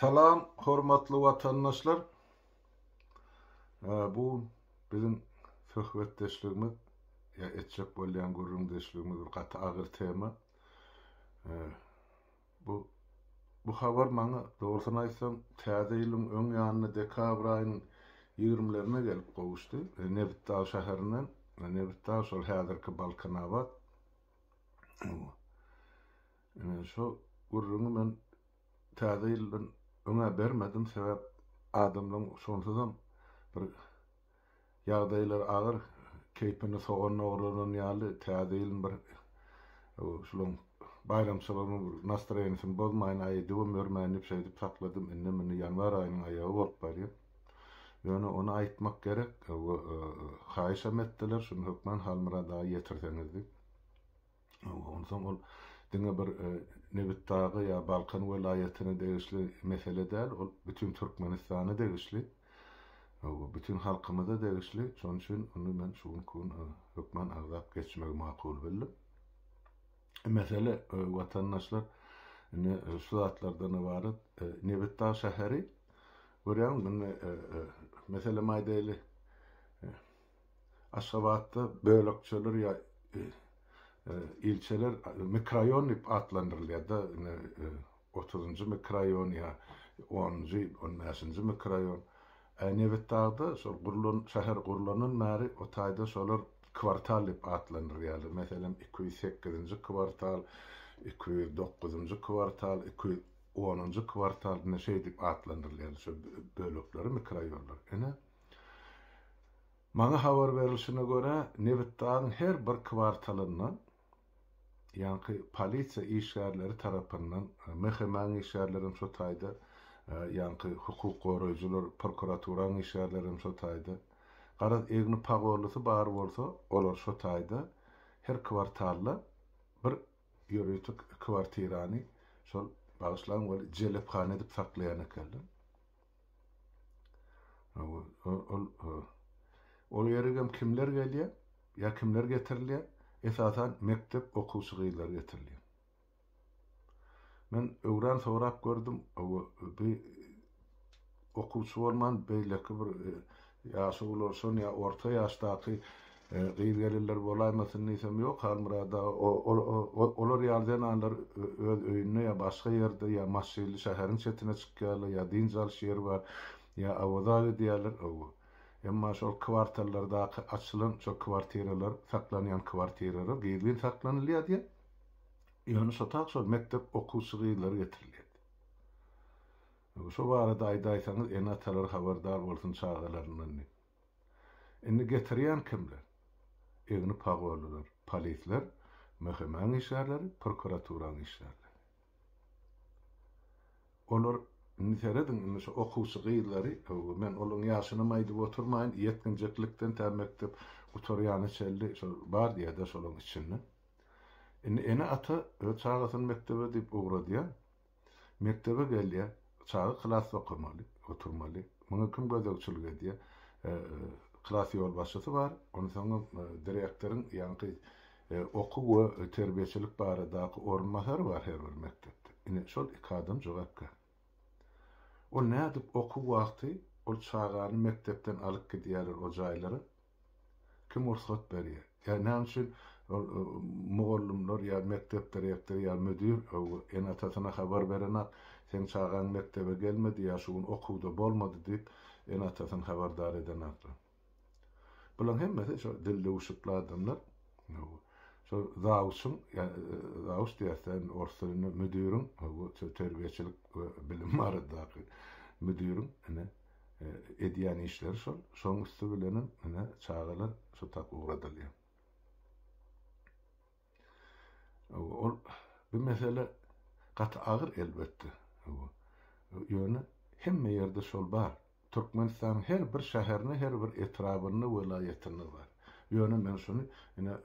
Salam hormatly watandaşlar. Bu biziň söhbetdeşligimiz ýa etjek bolýan gürrüňdeşligimiz bir gaty agyr tema. Bu bu habar maňa dogrusyny aýtsam täze ýylyň öň ýanyna dekabr aýynyň 20-lerine gelip gowuşdy. E, Nebitdag şäherinden, e, Nebitdag şol häzirki Balkanabat. Ine, şo gürrüňi men Täze ýyldan öň-ä bermedim, sebäp adamlaryň şonsuzam bir ýagdaýlary agyr, keýpini sogan ogranan ýaly, Täze ýylyň bir şularyň baýramçylygynyň bir nastroýeniýesini bozmaýyn, aýdybam ýörmäýin diýip şeýdip sakladym. Indem indi ýanwar aýynyň aýagy bolup barýar. Ýöne ony aýtmak gerek we haýyşam etdiler, şuny hökman Halmyrat aga ýetirseňiz diýip. Onsoň ol diňe bir Nebitdaga ýa Balkan welaýatyna degişli mesele däl, ol bütin Türkmenistana degişli, bütin halkymyza degişli. Şonuň üçin ony men şu günki gün hökman agzap geçmegi makul bildim. Mesele watandaşlar indi şu zatlardan ybarat. Nebitdag şäheri görýäňizmi? Indi meselem aýdaýly. Aşgabatda bölekçeler ýa ilçeler mikroýon diýip atlandyrylýar-da, indi otuzynjy mikroýon ýa onunjy, on bäşinji mikroýon. Ä Nebitdagda şol gurlan, şäher gurlandan bäri o taýda şolar kwartal diýip atlandyrýarlar. Meselem, iki ýüz sekizinji kwartal, iki ýüz dokuzynjy kwartal, iki ýüz onunjy kwartal, indi şeýdip atlandyrylýar şol bölekleri, mikroýonlary. Ine, Maňa habar berilişine görä, nebitgazyň her bir kwartalynda ýaňky polisiýa işgärleri tarapyndan, MHM-iň işgärleri hem şo taýda, ýaňky hukuk goraýjylar, prokuraturaň işgärleri hem şo taýda, garaz, egni pagorlusy bar bolsa, olar şo taýda her kwartalda bir ýörite kwartirany şol, bagyşlaň weli, jelephana edip saklaýan ekenler. Ol ýerik hem kimler gelýär ýa kimler getirilýär? Esasan mekdep okuwçy gyzlary getirilýär. Men öwran sorap gördüm, bi okuwçy bolman beýleki bir ýaşy ulalşan ýa orta ýaşdaky Gyz-gelinler bolaýmasyn diýsem, ýok, Halmyrat aga, olar ýaly zenanlar öz öýünde ýa başga ýerde, ýa maşynly şäheriň çetine çykýarlar, ýa dynç alyş ýeri bar, ýa Awaza gidýärler, owo. Emma şol kwartallardaky açylan şo kwartiralar, saklanýan kwartiralar gizlin saklanylýardy, ýöne şo tak şol mekdep okuwçy gyzlary getirilýärdi. Owo, şo barada aýdaýsaňyz, ene-atalar habardar bolsun çagalaryndan diýip. Indi getirýän kimler? Egni pagollylar, polisler, mhm-iň işgärleri, prokuraturaň işgärleri. Olar, indi serediň, indi şu okuwçy gyzlary, öw, men olaryň ýaşynam aýdyp oturmaýyn, ýetginjeklikden tä mekdep gutarýana çenli şol bar diýä-dä şolaryň içinde. Indi ene-ata öz çagasyny mekdebe diýip ugradýar. Mekdebe gelýär, çaga klasda okamaly, oturmaly. Muňa kim gözegçilik edýär? Klas ýolbaşçysy bar, ondan soň hem direktoryň, ýaňky okuw we terbiýeçilik baradaky orunbasary bar her bir mekdepde. Ine, şol iki adam jogapkär. Ol nädip okuw wagty ol çagany mekdepden alyp gidýärler o jaýlara, Kim rugsat berýär? Ýa näme üçin ol mugallymlar ýa mekdep direktory ýa müdir ene-atasyna habar berenak, seň çagaň mekdebe gelmedi ýa şu gün okuwda bolmady diýip, ene-atasyny habardar edenaklar? Bularyň hemmesi şo dil döwüşikli adamlar. Şo zawçyň, zawç diýäs-dä indi orus dilinde, müdiriň, terbiýeçilik we bilim baradaky müdiriň, ine, Edýän işleri şol. Şoň üsti bilenem ine çagalar şu tak ugradylýar. Ol bu mesele gaty agyr elbetde. Ýöne hemme ýerde şol bar. Türkmenistanyň her bir şäherinde, her bir etrabynda, welaýatynda bar. Ýöne men şuny ine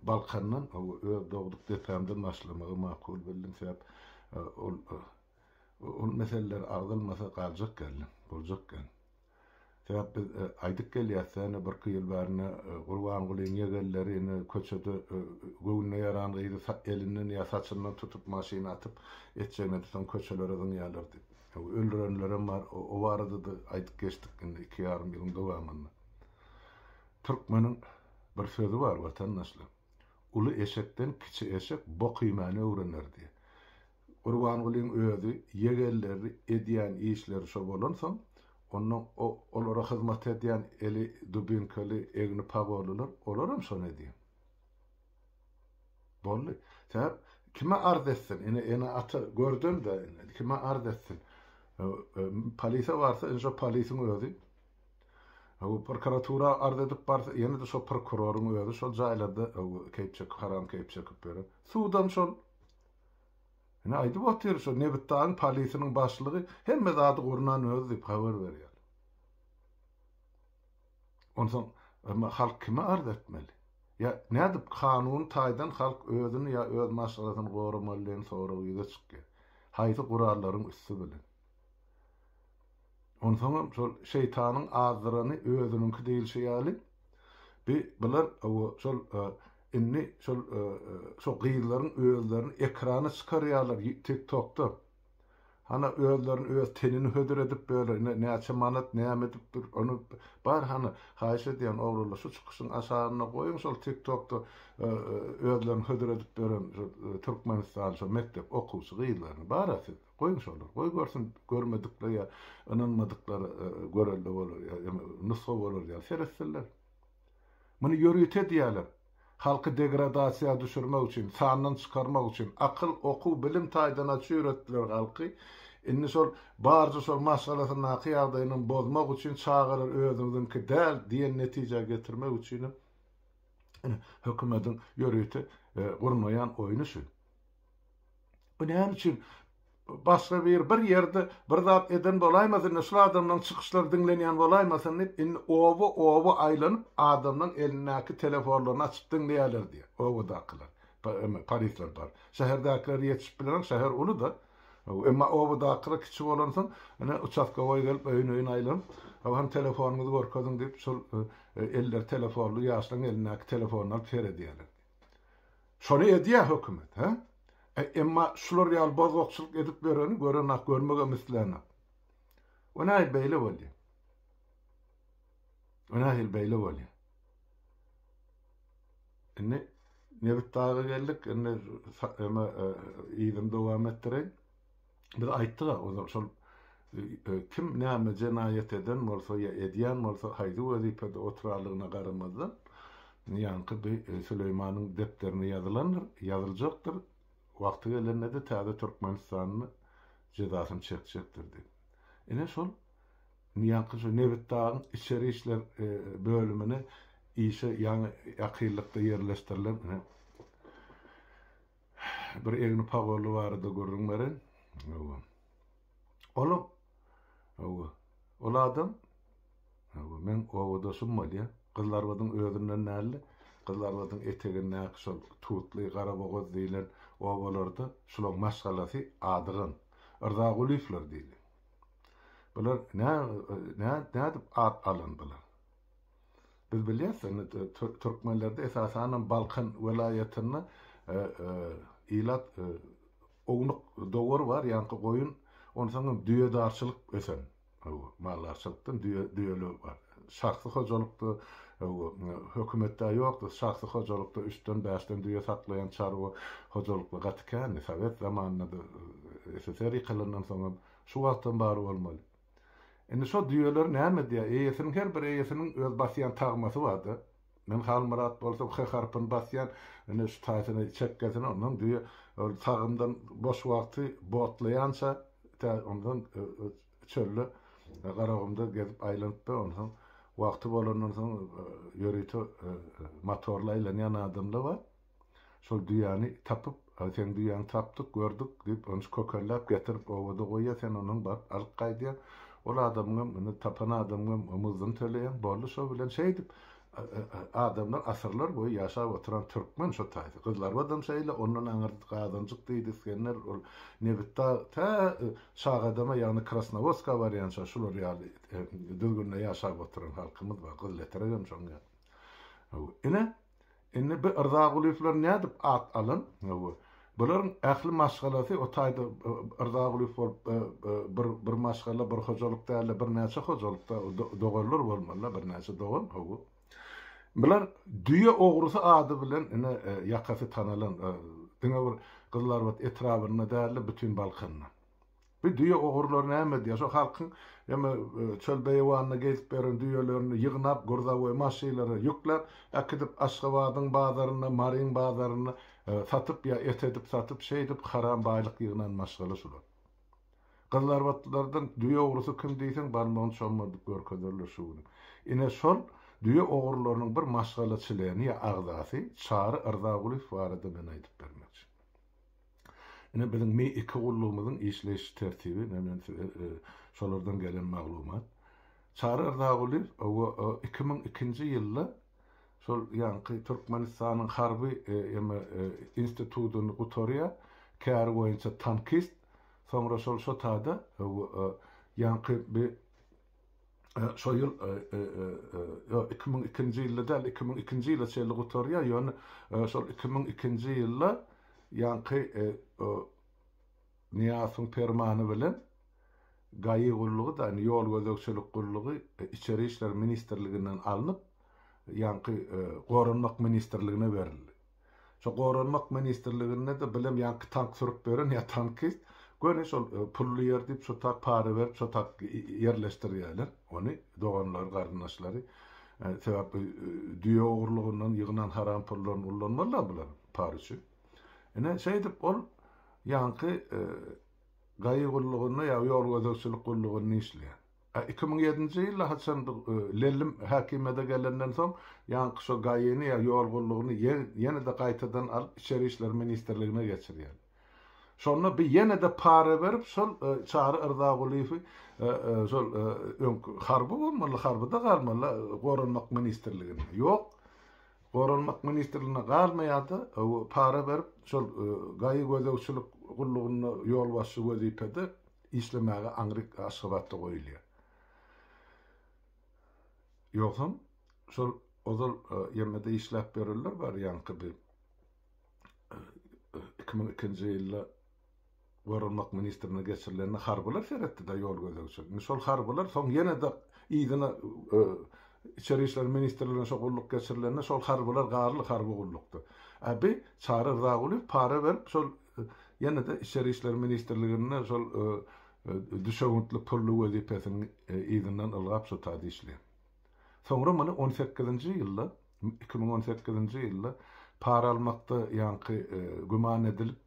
Balkandan, öz dogduk depämden başlamagy makul bildim. Sebäp ol Ol meseleler agzalmasa galjak geldi, boljak geldi. Sebäp biz aýdyp gelýäs, ýöne birki ýyl bäri ine Gurbangulyň ýegenleri ine köçede göwnüne ýaran gyzy elinden ýa saçyndan tutup maşyna atyp etjegine soň köçelere zyňýarlar diýip. Öldürenlerem bar, o barada-da aýdyp geçdik indi iki ýarym ýylyň dowamynda. Türkmeniň bir sözi bar watandaşlar, Uly eşekden kiçi eşek bok iýmäni öwrener diýip. Gurbangulyň özi ýegenleri edýän işleri şo bolansoň, onda olara hyzmat edýän eli dubinkeli, egni pagollylar, olaram şony edýär. Boldy. Sebäp kime arz etsin? Ine, ene-ata gördüm-de, kime arz etsin? Polise barsa, indi şo polisiň özi. Prokuratura arz edip barsa, ýene-de şo prokuroryň özi şol jaýlarda keýp çekip, haram keýp çekip ýören. Sudam şol. Ine aýdyp otyr şo Nebitdagyň polisiniň başlygy hemme zady gurnan özi diýip habar berýär. Onsoň emma halk kime arz etmeli? Ýa nädip kanuny taýdan halk özüni ýa öz maşgalasyny goramaly diýen sorag ýüze çykýar. Haýsy gurallaryň üsti bilen? Onsoňam şol şeýtanyň azdyrany özüniňki diýilşi ýaly, bi bular şol indi şol şo gyzlaryň özlerini ekrana çykarýarlar tik tokda. Hana özlerini öz tenini hödür edip böle indi näçe manat näme edip dur ony bar hany haýyş edýän oglanlar şu çykyşyň aşagyna goýuň şol tik tokda özlerini hödür edip bölen şo türkmenistan şo mekdep okuwçy gyzlaryny bara siz. Goýuň şolar, goý görsün, görmedikler ýa ynanmadyklar görelde bolar ýa nusga bolar ýaly seretsinler. Muny ýörite edýärler. Halky degradasiýa düşürmek üçin, sandan çykarmak üçin, akyl, okuw, bilim taýdan aç ýöretdiler halky. Indi şol barja şol maşgalasyndaky ýagdaýynam bozmak üçin çagalar özüňiziňki däl diýen netijä getirmek üçinem ine hökümediň ýörite gurnaýan oýny şu. Bu näme üçin? Başga bir bir ýerde bir zat eden bolaýmasyn, şul adamlaryň çykyşlary diňlenýän bolaýmasyn diýip, indi oba-oba aýlanyp, adamlaryň elindäki telefonlaryny açyp diňleýärler diýýär, obadakylar. Emma polisler bar. Şäherdäkiler ýetişip bilenok, şäher uly-da. Emma obadakylar kiçi bolansoň, ine, uçastkowoý gelip, öýüne-öýüne aýlanyp, Hany, telefonyňyzy görkeziň diýip, şol elleri telefonly ýaşlaryň elindäki telefonlary alyp seredýärler diýýär. Şony edýä hökümet hä? E emma şular ýaly bozgakçylyk edip ýöreni görenok görmegem islänok. We nähili beýle bolýa? We nähili beýle bolýa? Indi Nebit daga geldik, indi eme e, yzyny dowam etdireýin. Biz aýtdyga ozal şol kim näme jenaýat eden bolsa ýa edýän bolsa haýsy wezipede oturarlygyna garamazdan ýaňky bi Süleýmanyň depderine ýazylandyr, ýazyljakdyr, wagty gelende-de täze Türkmenistanly jezasyny çekjekdir diýip. Ine şol ýaňky şu Nebitdagyň içeri işler bölümine işe ýaňy ýakynlykda ýerleşdirilen Bir egni pagolly barada gürrüň beren. Hawa. Olam. Hawa. Ol adam. Hawa, men owadoşum bolýa. Gyzlarbadyň özünden däldi. Gyzlarbadyň etegindäki şol Tutly, Garabogaz diýlen obalarda şulaň maşgalasy Adygan. Yrzagulyýewler diýli. Bular nä, nä, nädip at alyndylar? Biz bilýäs, indi türkmenlerde esasanam Balkan welaýatynda ilat ownuk dowar bar, ýaňky goýun, onsoňam düýedarçylyk ösen. Hawa, maldarçylykdan düýe, düýeler bar. Şahsy hojalykda, hawa, hökümetde ýokdy, şahsy hojalykda üçden, bäşden düýe saklaýan çarwa hojalyklar gaty kändi. Sowet zamanynda-da, SSR ýykylandan soňam, şu wagtam bar bolmaly. Indi şo düýeler näme edýär? Eýesiniň her bir eýesiniň öz basýan tagmasy bar-da. Men Halmyrat bolsam H harpyny basýan, ine şu taýsyny, çekgesini, ondan düýe ol tagymdan boş wagty botlaýança tä ondan çölde Garagumda gezip aýlanyp-da, onsoň wagty bolandan soň ýörite motorly aýlanýan adamlar bar. Şol düýäni tapyp, Haý, seň düýäňi tapdyk, gördük, diýip, ony kökelläp getirip, obada goýýar, sen ondan baryp alyp gaýdýaň. Ol adamyňam, indi tapan adamyňam omuzdyny töleýäň. Boldy, şo bilen şeýdip, adamlar asyrlar boýy ýaşap oturan türkmen şo taýda. Gyzlarybadam şeýle, ondan aňyrda Gazanjyk diýdi, isgender, ol Nebitdag, tä Şagadama, ýagny Krasnowoska barýança şular ýaly düzgünde ýaşap oturan halkymyz bar, Gyzyletregem şoň ýaly. Ine, Indi bi Yrzagulyýewler nädip at alan? Hawa. Bularyň ähli maşgalasy o taýda Yrzagulyýew bolup bir bir maşgala, bir hojalyk däl-de, birnäçe hojalykda doganlar bolmaly-da, birnäçe dogan. Hawa. Bular düýe ogrusy ady bilen ine ýakasy tanalan diňe bir Gyzlarbat etrabynda däl-de, bütin Balkanda. Bu düýe ogurlary näme edýär? Şo halkyň ýa-da çöl beýewanynda gezip ýören düýelerini ýygnap, gurzawoý maşylara ýükläp, äkidip Aşgabadyň bazarynda, Maryň bazarynda satyp ýa et edip satyp, şeýdip haram baýlyk ýygnan maşgala şular. Gyzlarbatlylardan düýe ogrusy kim diýseň, barmagyny çommadyp görkezerler şu güni. Ine, şol düýe ogurlarynyň bir maşgala çleni ýa agzasy Çary Yrzagulyýew barada men aýdyp bermekçi. Ine biziň mi iki gullugymyzyň işleýiş tertibi men size şolardan gelen maglumat. Çary Yrzagulyýew owo iki müň ikinji ýylda şol ýaňky Türkmenistanyň harby eme institutyny gutarýar, käri boýunça tankist, soňra şol şotada owo ýaňky bi şo ýyl, ýok, iki müň ikinji ýylda däl, iki müň ikinji ýyla çenli gutarýar, ýöne şol iki müň ikinji ýylda ýaňky Nyýazowyň permany bilen Gaýy gullugy-da, indi Ýol gözegçilik gullugy Içeri işler ministrliginden alnyp, ýaňky Goranmak ministrligine berildi. Şo goranmak ministrliginde-de bilem ýaňky tank sürüp beren ýa tankist, göni şol pully ýer diýip şo tak para berip şo tak ýerleşdirýäler ony doganlary garyndaşlary. Sebäp düýe ogrulygyndan ýygnan haram pullaryny ullanmazlar bular para üçin. Ine şeýdip ol ýaňky gaýy gullugynda ýa ýol gözegçilik gullugynda işleýär. A iki müň ýedinji ýyla haçan bu Lellim häkimiýete gelenden soň, ýaňky şo Gaýyny ýa ýol gullugyny ýene-de gaýtadan alyp Içeri işler ministrligine geçirýär. Şonda bi ýene-de para berip şol Çary Yrzagulyýewi şol öňki harby bolmaly, harbyda galmaly Goranmak ministrligine. Ýok, Goranmak ministrligine galmaýar-da, para berip şol Gaýy gözegçilik gullugynda ýolbaşçy wezipede Işlemäge aňryk Aşgabatda goýulýar. Ýogsam, şol ozal YMD-de işläp ýörenler bar, ýaňky bir iki müň ikinji ýylda Goranmak ministrine geçirilende harbylar seretdi-de ýol gözegçilik. Indi şol harbylar soň ýene-de yzyna Içeri işler ministrligine şo gulluk geçirilende şol harbylar garly harby gullukda. Äbi Çary Rzagulyýew para berip şol Ýene-de Içeri işler ministrliginde şol düşewüntli pully wezipesiniň yzyndan ylgap şu taýda işleýär. Soňra muny on sekizinji ýylda, iki müň on sekizinji ýylda para almakda ýaňky güman edilip,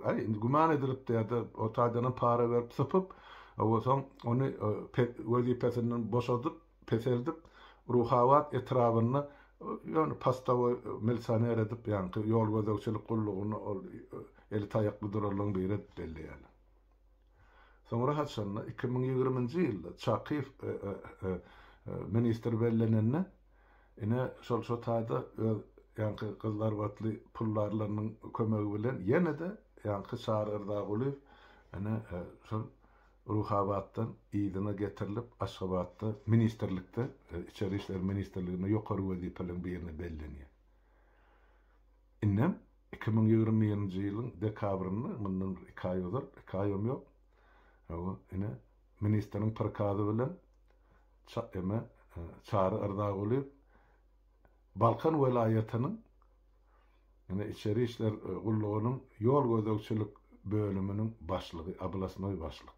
aý, indi güman edilipdi ýa-da o taýdanam para berip sypyp, soň ony wezipesinden boşadyp, peseldip, Ruhabat etrabynda ýöne postowoý milisioner edip, ýaňky ýol gözegçilik gullugyny ol eli taýakly durarlaryň biri edip belleýärler. Soňra haçanda, iki müň ýigriminji ýylda Çakyýew ministr bellenende, ine, şol şo taýda öz ýaňky gyzlarbatly pullarlarynyň kömegi bilen ýene-de ýaňky Çary Yrzagulyýew ine, şol Ruhabatdan yzyna getirilip, Aşgabatda ministrlikde, Içeri işler ministrliginde ýokary wezipeleriň birine bellenýär. Indem iki müň ýigrimi birinji ýylyň dekabrynda, mundan bir iki aý ozal, iki aýam ýok, hawa, ine, ministriň prikazy bilen Ça, eme, Çary Yrzagulyýew Balkan welaýatynyň Ine, Içeri işler gullugynyň ýol gözegçilik bölüminiň başlygy, oblastnoý başlyk.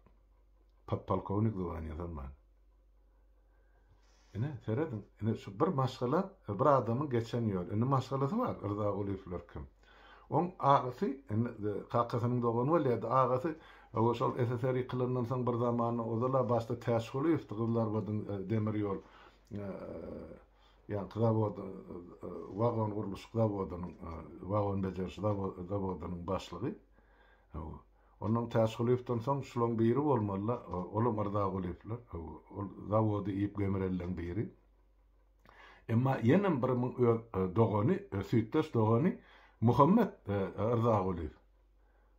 Podpolkownik zwanýasy hem bar. Ine, serediň, ine, şu bir maşgala, bir adamyň geçen ýoly. Indi maşgalasy bar, Rzagulyýewler kim. Oň agasy, indi kakasynyň dogany bolýardy, agasy, owo, şol SSR ýykylandan soň bir zamanda, ozal-a başda Täçgulyýewdi, Gyzlarbadyň demir ýol Ýaňky zawodyň Wagon gurluşyk zawodynyň wagon bejeriş zawodynyň başlygy. Hawa. Onnoň Täçgulyýewden soň şulaň biri bolmaly-da, olam Yrzagulyýewler. Hawa, ol zawody iýip gemirelleň biri. Emma ýenem bir muň öz dogany, süýtdeş dogany Muhammet Yrzagulyýew.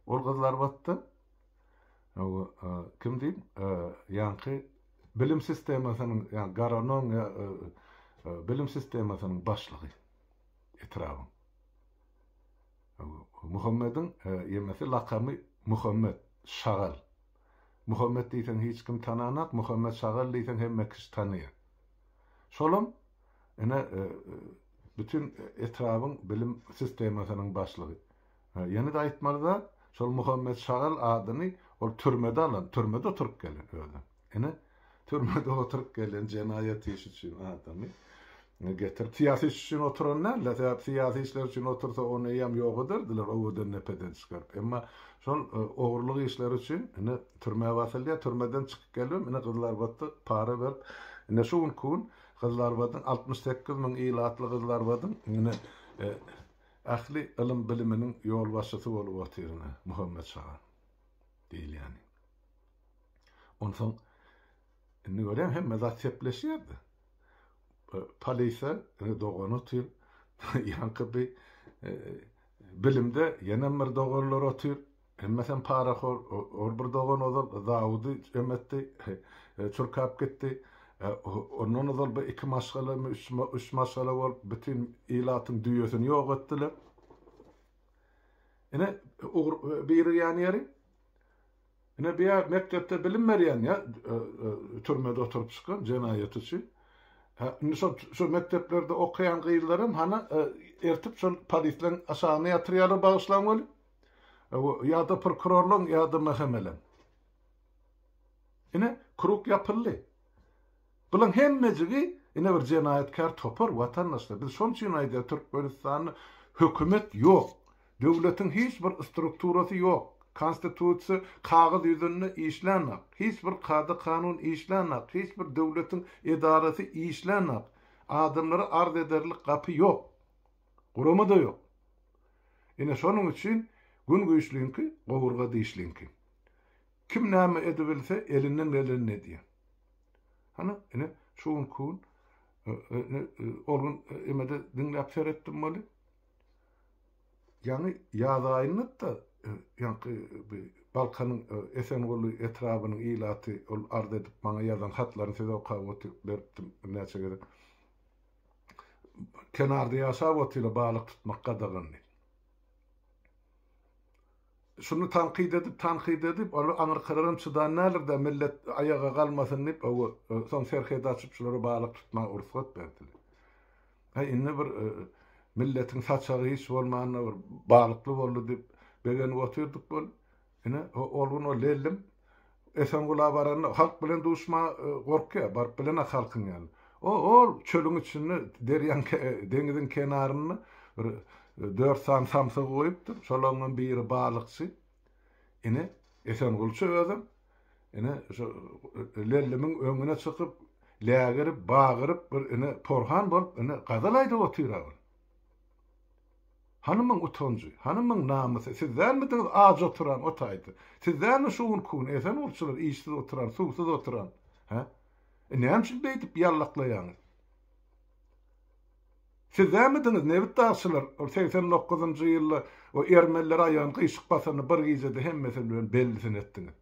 Ol gyzlarbatda. Kim diýip, ýaňky bilim sistemasynyň, ýa garanon, ýa bilim sistemasynyň başlygy etrabyň. Muhammediň ýemesi lakamy Muhammet, şagal. Muhammet diýseň hiç kim tananak, Muhammet şagal diýseň hemme kişi tanaýar. Şolam ine bütin etrabyň bilim sistemasynyň başlygy. Ýene-de aýtmaly-da, şol Muhammet Şagal adyny ol türmede alan, türmede oturyp gelen özem. Ine, türmede oturyp gelen jenaýat işi üçin adamy getirip, syýasy iş üçin oturan däl-de, sebäp syýasy işler üçin otursa, ony eýýäm ýok ederdiler, owadan-depeden çykaryp. Emma şol ogurlyk işleri üçin ine türmä basylýar, türmeden çykyp gelibem, ine Gyzylarbada para berip, ine şu günki gün Gyzylarbadyň altmyş sekiz müň ilatly Gyzylarbadyň ine Ähli ylym-biliminiň ýolbaşçysy bolup otyryna, Muhammet şaga diýilýäni. Onsoň, indi görýäň, hemme zat sepleşýär-de. Polise indi dogan otyr, ýaňky bi bilimde ýenem bir doganlar otyr. Hemmesem parahor, or bir dogan ozal zawody emetdi, çurkap gitdi. Ondan ozal bu iki maşgalamy, üç maşgala bolup bütin ilatyň düýesini ýok etdiler. Ine ugur birigýän ýeri. Ine bu ýa mekdepde bilim berýän ýa türmede oturyp çykan jenaýat üçin. Ha indi şol şu mekdeplerde okaýan gyzlaram hana ertip şol polisleň aşagyna ýatyrýarlar bagyşlaň weli. Ýa-da prokurorlaň, ýa-da MHM-leň. Ine, krug ýapyldy. Bulaň hemmejigi ine bir jenaýatkär topar, watandaşlar. Biz şonuň üçin aýdýarys, Türkmenistanda hökümet ýok. Döwletiň hiç bir strukturasy ýok. Konstitusiýa kagyz ýüzünde işlänok. Hiç bir kada-kanun işlänok. Hiç bir döwletiň edarasy işlänok. Adamlara arz ederlik gapy ýok. Gurama-da ýok. Ine şonuň üçin Gün güýçliňki, gowurga dişliňki. Kim näme edibilse, elinden gelenini edýär. Hany, ine, şu günki gün, ine, ol gün emede diňläp seretdim weli, ýaňy ýaz aýynda-da, ýaňky bi Balkanyň Esenguly etrabynyň ilaty ol arz edip maňa ýazan hatlaryny size okap otyr, beripdim birnäçe gezek. kenarda ýaşap otyla balyk tutmak gadagandy. Şuny tankyt edip, tankyt edip, ol aňyrkararam çydan nälir-dä, millet aýaga galmasyn diýip, hawa, soň serhedi açyp şulara balyk tutmaga rugsat berdiler. Aý, indi bir milletiň saçagy hiç bolmanda bir balykly boldy diýip begenip otyrdyk bol. Ine, ol gün o lellim Esengula baranda, halk bilen duşmaga gorkýar, baryp bilenok halkyň ýanyna. O-ol çölüň içinde, derýaň, deňiziň kenarynda bir dört sany samsygy goýupdyr. Şolaňňam biri balykçy. Ine, Esengulça özem, ine, şo lellimiň öňüne çykyp, lägirip, bagyryp, bir, ine, porhan bolup, ine, gazal aýdyp otyr-a ol. Hanymyň utanjy, hanymyň namysy, siz dälmidiňiz aç oturan o taýda? Siz dälmi şu gün kün esen urçular işsiz oturan, suwsuz oturan? Hä? E näme üçin beýdip ýallaklaýaňyz? Siz dälmidiňiz nebit dagçylar ol segsen dokuzynjy ýylda o ermeniler aýagyny gyşyk basanyny bir gijede hemmesi bilen bellisini etdiňiz?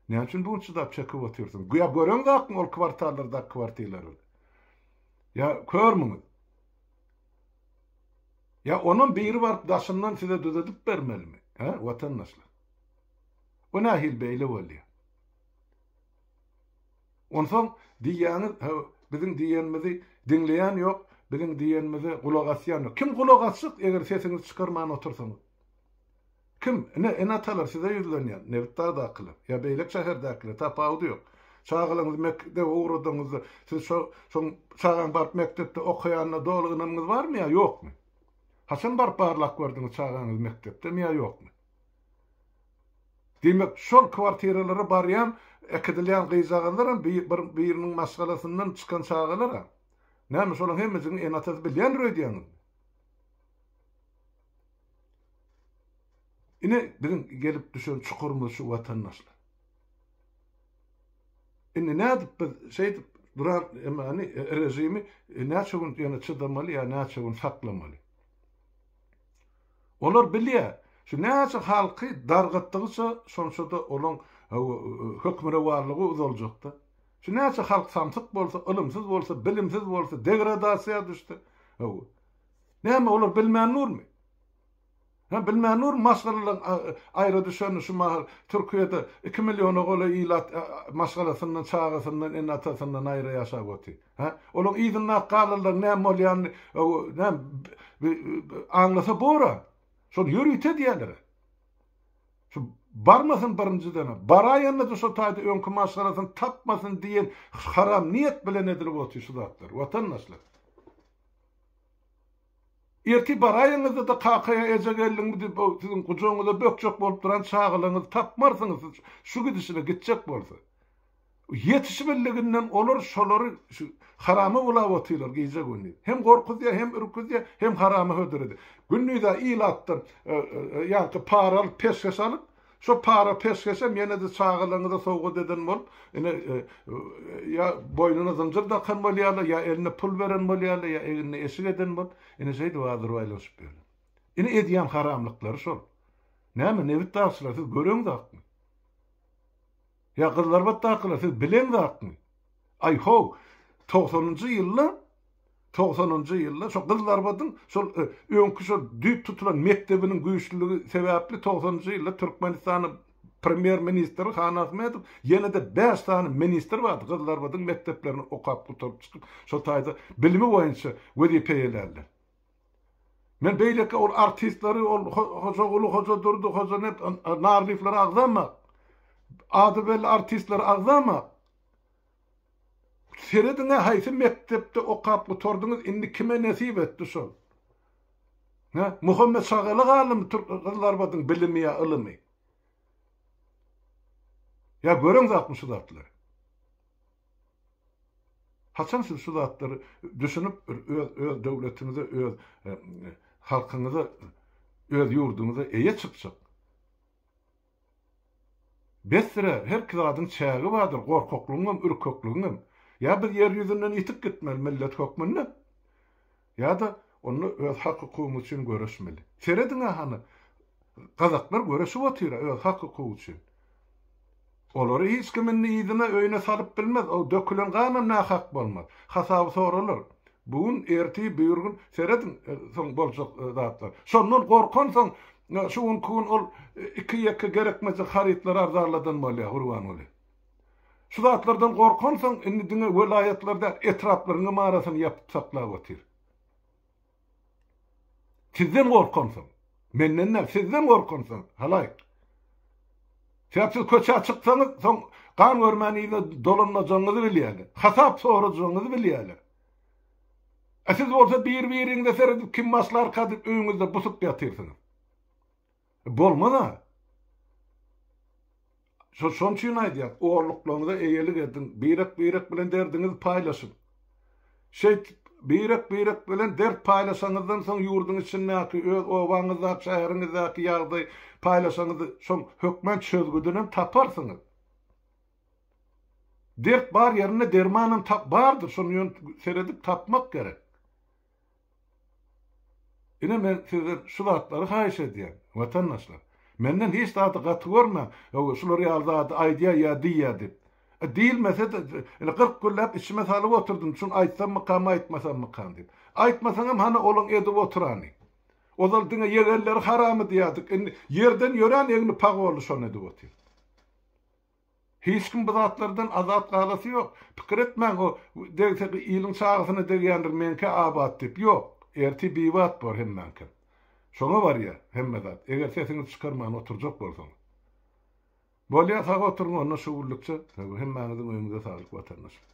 Näme üçin bu gün çydap çekip otyrsyňyz? Ýa göreňiz akmy ol kwartallardaky kwartilerleri? Ýa körmüňiz? Ýa onam biri baryp daşyndan size düzedip bermelimi, hä, watandaşlar? Bu nähili beýle bolýa? Onsoň diýýäňiz, hä, biziň diýenimizi diňleýän ýok, biziň diýenimize gulak asýan ýok. Kim gulak asjak, eger sesiňizi çykarman otursaňyz? Kim? Ine, ene-atalar size ýüzlenýän, Nebitdagdakylar, ýa beýleki şäherdäkiler, tapawudy ýok. Çagalaryňyzy mek debe ugradaňyzda, siz şo, şoň, çagaň baryp mekdepde okaýanyna doly ynamyňyz barmy ýa ýokmy? Haçan baryp barlap gördüňiz çagaňyz mekdepdemi ýa ýokmy? Diýmek, şol kwartiralara barýan, äkidilýän gyzjagazlaram bi, bir, biriniň maşgalasyndan çykan çagalar-a? Näme, şolaň hemmejigiň ene-atasy bilýändir öýdýäňizmi? Ine, biziň gelip düşen çukurymyz şu watandaşlar. Indi nädip biz şeýdip duran emani režimi näçe gün ýene çydamaly ýa näçe gün saklamaly? Olar bilýär, şu näçe halky dargatdygyça şonça-da olaň hökmürowanlygy uzaljakda. Şu näçe halk samsyk bolsa, ylymsyz bolsa, bilimsiz bolsa, degradasiýa düşse, hawa. Näme, olar bilmän durmy? Hä, bilmän durmy maşgalalar aýra düşenini şu mahal Türkiýede iki milliona golaý ilat maşgalasyndan, çagasyndan, ene-atasyndan aýra ýaşap otyr? Hä, olaň yzyndaky galalaryň näme bolýanyny näme aňlasa bor-a? Şony ýörite edýäler-ä. Şu barmasyn birinjiden-ä, baraýanda-da şo taýda öňki maşgalasyny tapmasyn diýen haram niýet bilen edilip otyr şu zatlar, watandaşlar. Ertir baraýyňyzda-da kakaýa eje geldiňmi diýip o siziň gujagyňyza bökjek bolup duran çagalaňyzy tapmarsyňyz siz şu gidişine gitjek bolsa. Ýetişibildiginden olar şolary şu harama ulap otyrlar gije-gündiz. Hem gorkuzýar hem ürküzýär hem harama hödür edýär. Gündiz-ä ilatdan ýaňky para alyp peşgeş alyp Şo para peşgeşem ýene-de çagalarňyza sowgat eden bolup, ine, ýa boýnuna zynjyr dakan bolýarlar, ýa eline pul beren bolýarlar, ýa egnine eşik eden bolup, ine, şeýdip adyr baýlanyşyp ýörler. Ine, edýän haramlyklary şol. Näme, nebit dagçylar, siz göreňzakmy? Ýa gyzlarbatdakylar siz bilen zatmy? Aý how, togsanynjy ýylda, togsanynjy ýylda şo gyzlarbadyň şol öňki şol düýp tutulan mekdebiniň güýçlüligi sebäpli togsanynjy ýylda Türkmenistanyň premýer ministri Han Ahmedow ýene-de bäş sany ministr bardy gyzlarbadyň mekdeplerini okap gutaryp çykyp şol taýda bilimi boýunça wezipe eýelärler. Men beýleki ol artistleri, ol Hojaguly, Hojadurdy, Hojanet, Narlyýewleri agzamak, ady belli artistleri agzamak. Serediň-ä haýsy mekdepde okap gutardyňyz, indi kime nesip etdi şol? Hä? Muhammet Şagaly galdymy türk gyzlarbadyň bilimi ýa ylymy? Ýa göreňzakmy şu zatlary? Haçan siz şu zatlary düşünip bir öz öz döwletiňize öz halkyňyza öz ýurduňyza eýe çykjak. Bessirä herki zadyň çägi bardyr gorkaklygyňam ürkekligiňem. Ýa biz ýer ýüzünden ýitip gitmeli millet hökmünde. Ýa-da onda öz hak-hukugyňyz üçin göreşmeli. Serediň-ä hany, gazaklar göreşip otyr-a öz hak-hukugy üçin. Olary hiç kim indi yzyna, öýüne salyp bilmez, o dökülen ganam nähak bolmaz. Hasaby soralar. Bu gün, ertir, birigün, serediň, soň boljak zatlar. Şondan gorkansoň, şu günki gün ol iki-ýeke gerekmejek harytlary arzanladan bolýar, Gurbanguly. Şu zatlardan gorkansoň, indi diňe welaýatlary däl, etraplaryň hem arasyny ýapyp saklap otyr. Sizden gorkansoň. Menden däl, sizden gorkansoň, halaýyk. Sebäp siz köçä çyksaňyz, soň gan görmän yzyna dolanmajagyňyzy bilýärler. Hasap sorajagyňyzy bilýärler. A siz bolsa bir-biriňize seredip kim başlarka diýip öýüňizde busup ýatyrsyňyz. Bolmaz-a. Şo, şoň üçin aýdýas, orluklaryňyza eýelik ediň, birek-birek bilen derdiňizi paýlaşyň. Şeýdip, birek-birek bilen dert paýlaşanyňyzdan soň ýurduň içindäki, öz obaňyzdaky, şäheriňizdäki ýagdaý paýlaşanyňyzy şoň hökmän çözgüdinem taparsyňyz. Dert bar ýerinde dermanam tap bardyr, şony ýöne seredip tapmak gerek. Ine men sizden şu zatlary haýyş edýän, watandaşlar. Menden hiç zady gaty görmäň, ýogsy şular ýaly zady aýdýa ýa diýýä diýip. E, diýilmese-de, ine kyrk günläp içime salyp oturdym, şuny aýtsammykam, aýtmasammykam diýip. Aýtmasaňam hany olaň edip oturany. Ozal diňe ýegenleri haram edýärdik, indi ýerden ýörän egni pag boldy, şony edip otyr. Hiç kim bu zatlardan azat galasy ýok. Pikir etmäň o degse iliň çagasyna degýändir meňkä abat diýip. Ýok. Ertir bibat bor hemmäňkem. Şoňa barýar hemme zat. Eger sesiňizi çykarman oturjak bolsaňyz. Bolýa sag oturyň onda şugulykça. Hemmäňiziň öýüňize saglyk watandaşlar.